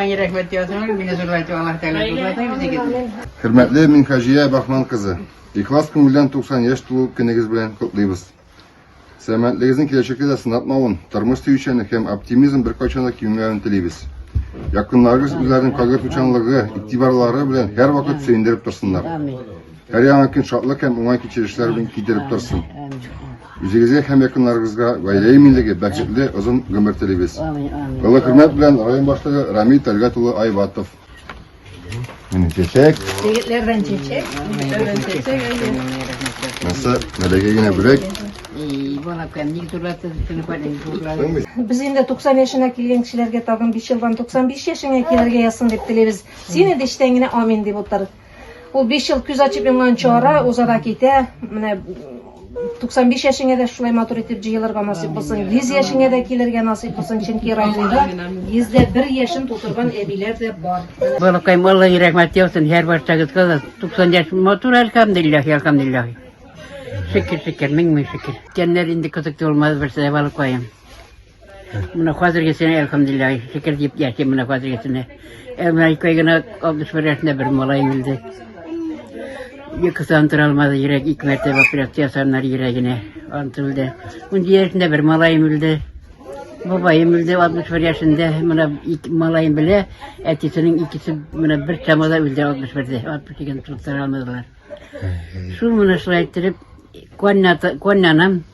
Миңа рәхмәт языңыз, мине зурлайтып Аллаһ Тәгалә зурлатыр үзегезне. Хөрмәтле Минхаҗия Бахман кызы, ихлас күңелдән 90 яшь тулу көнегез белән котлыйбыз. Сәламәтлегегезнең киләчәккә дә сынатмавын, тормыш сөючәнлек һәм оптимизм беркайчан да кимемәвен телибез. Якыннарыгыз үзләренең кайгы тучанлыгы, игътибарлары белән һәрвакыт сөендереп торсыннар. Һәр яңа көн шатлык һәм уңай кичерешләр белән китереп торсын. Үзегезгә һәм якыннарыгызга гаилә иминлеге, бәхетле озын гомер телибез. Олы хөрмәт белән район башлыгы Рамил Тәлгат улы Айбатов. Менә чәчәк. Егетләрдән чәчәк, егетләрдән чәчәк. Наса, нәләгә генә бүләк. И, балакам, ник зурлатты сине падин зурлады. Без инде 90 яшенә килгән кешеләргә тагын 5 елдан 95 яшеңә килергә язсын дип телибез. Син инде эчтән генә амин дип утыр. Ул 5 ел күз ачып йомганчы ара, уза да китә. Менә 95 яшеңә дә шулай матур итеп җыелырга насыйп булсын. 100 яшеңә дә килергә насыйп булсын, чөнки районда 101 яшен тутырган әбиләр дә бар. Балакайым, Алла рәхмәт яусын, һәр барсагызга да 90 яшь матур, әлхәмдулиллах, әлхәмдулиллах. Шөкер, шөкер, мең мең шөкер. Кәннәр инде кызык булмады берсе, балакайым. Менә хәзергесенә, әлхәмдулилла, шөкер дип яшим менә хәзергесенә. Ә менә ике ай гына 61 яшендә бер малаем үлде. Йокыдан тора алмады, йөрәк ике мәртәбә операция ясаннар йөрәгенә. Ант үлде. Унҗи яшендә бер малаем үлде. Бабаем үлде 61 яшендә. Менә ике малаем белә, әтисенең икесе менә бер чамада үлде 61-дә. 62-ге тора алмадылар. Шул менә шулай иттереп, коннята, коннанам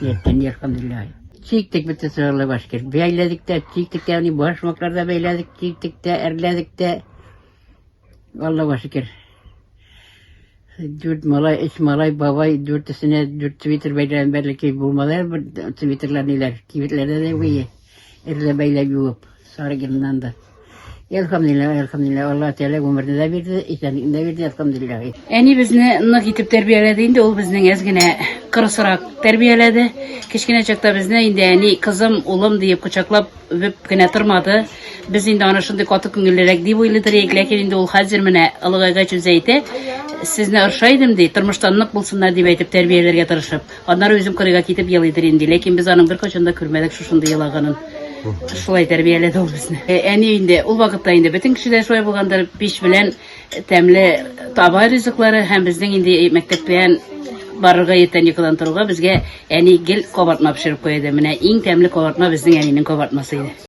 Иртән иркәмдиләй. Чиктек бит сыгырлы башкир. Бәйләдек тә, чиктек тә, ани башмаклар да бәйләдек, чиктек тә, әрләдек тә. Алла башкир. Дүрт малай, өч малай, бабай, дүртесенә дүрт свитер бәйләгән бәлки булмады бер свитерлар ниләр. Кибетләрдә дә буе. Эрле бәйләп юып, сары геннан да. Әлхамдулилла, әлхамдулилла, Алла Тәгалә гомерне дә бирде, исәнлеген дә бирде, әлхамдулилла. Әни безне нык итеп тәрбияләде инде, ул безнең әз генә кырысрак тәрбияләде. Кечкенә чакта безне инде әни кызым, улым диеп кочаклап үбеп кенә тормады. Без инде аны шундый каты күңеллерәк дип уйлыйдыр идек, ләкин инде ул хәзер менә олыгайгач үзе әйтә, сезне орша идем ди, тормыштан нык булсыннар дип әйтеп тәрбияләргә тырышып. Аннары үзем кырыйга китеп елыйдыр инде, ләкин без аның беркайчан да күрмәдек шушындый елаганын. Шулай тәрбияләде ул безне. Э, Әни инде ул вакытта инде бөтен кеше дә шулай булгандыр, пич белән тәмле таба ризыклары һәм безнең инде мәктәптән барырга иртән йокыдан торуга безгә әни гел кабартма пешереп куя иде. Менә иң тәмле кабартма безнең әнинең кабартмасы иде.